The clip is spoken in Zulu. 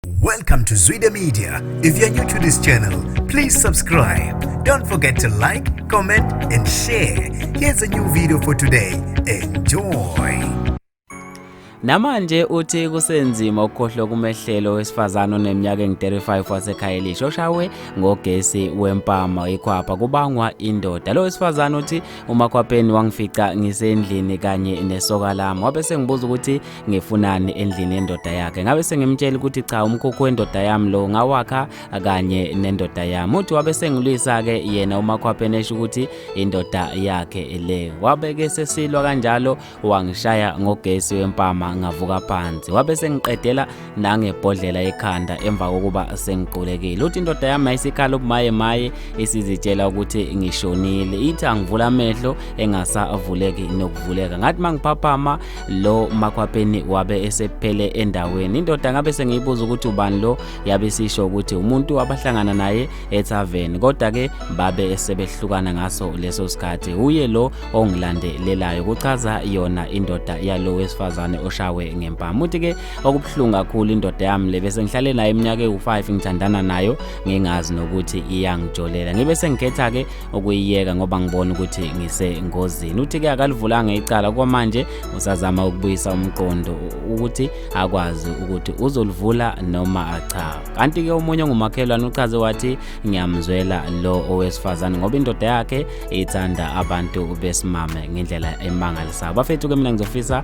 Welcome to Zwide Media. If you're new to this channel, please subscribe. Don't forget to like, comment and share. Here's a new video for today. Enjoy. Namanje uthi kusenzima ukukhohlwa kumehlelo wesifazane oneminyaka engu-35 waseKhayelishi oshawe ngogesi wempama ikhwapha kubangwa indoda. Lo wesifazane uthi umakhwapheni wangifica ngisendlini kanye nesoka lami wabe sengibuza ukuthi ngifunani endlini yendoda yakhe ngabe sengimtshela ukuthi cha umkhukhu wendoda yami lo ngawakha kanye nendoda yami uthi wabe sengilwisa-ke yena umakhwapheni esho ukuthi indoda yakhe le wabeke sesilwa kanjalo wangishaya ngogesi wempama ngavuka phansi wabe sengiqedela nangebhodlela ekhanda emva kokuba sengiqulekile uthi indoda yami ayisikhala ubumaye maye isizitshela ukuthi ngishonile ithi angivula amehlo engasavuleki nokuvuleka ngathi mangiphaphama lo makhwapheni wabe esephele endaweni indoda ngabe sengiyibuza ukuthi ubani lo yabe sisho ukuthi umuntu abahlangana naye etavern kodwa ke babe sebehlukana ngaso leso sikhathi uye lo ongilandelelayo kuchaza yona indoda yalo wesifazane oshawe ngempama uthi ke okubuhlungu kakhulu indoda yami le bese ngihlale nayo iminyaka ewu-5 ngithandana nayo ngingazi nokuthi iyangijolela ngibe sengikhetha-ke ukuyiyeka ngoba ngibona ukuthi ngisengozini uthi-ke akalivulanga icala kwamanje usazama ukubuyisa umqondo ukuthi akwazi ukuthi uzolivula noma cha kanti-ke omunye ongumakhelwane uchaze wathi ngiyamzwela lo owesifazane ngoba indoda yakhe ithanda abantu besimame ngendlela emangalisayo bafethu-ke mina ngizofisa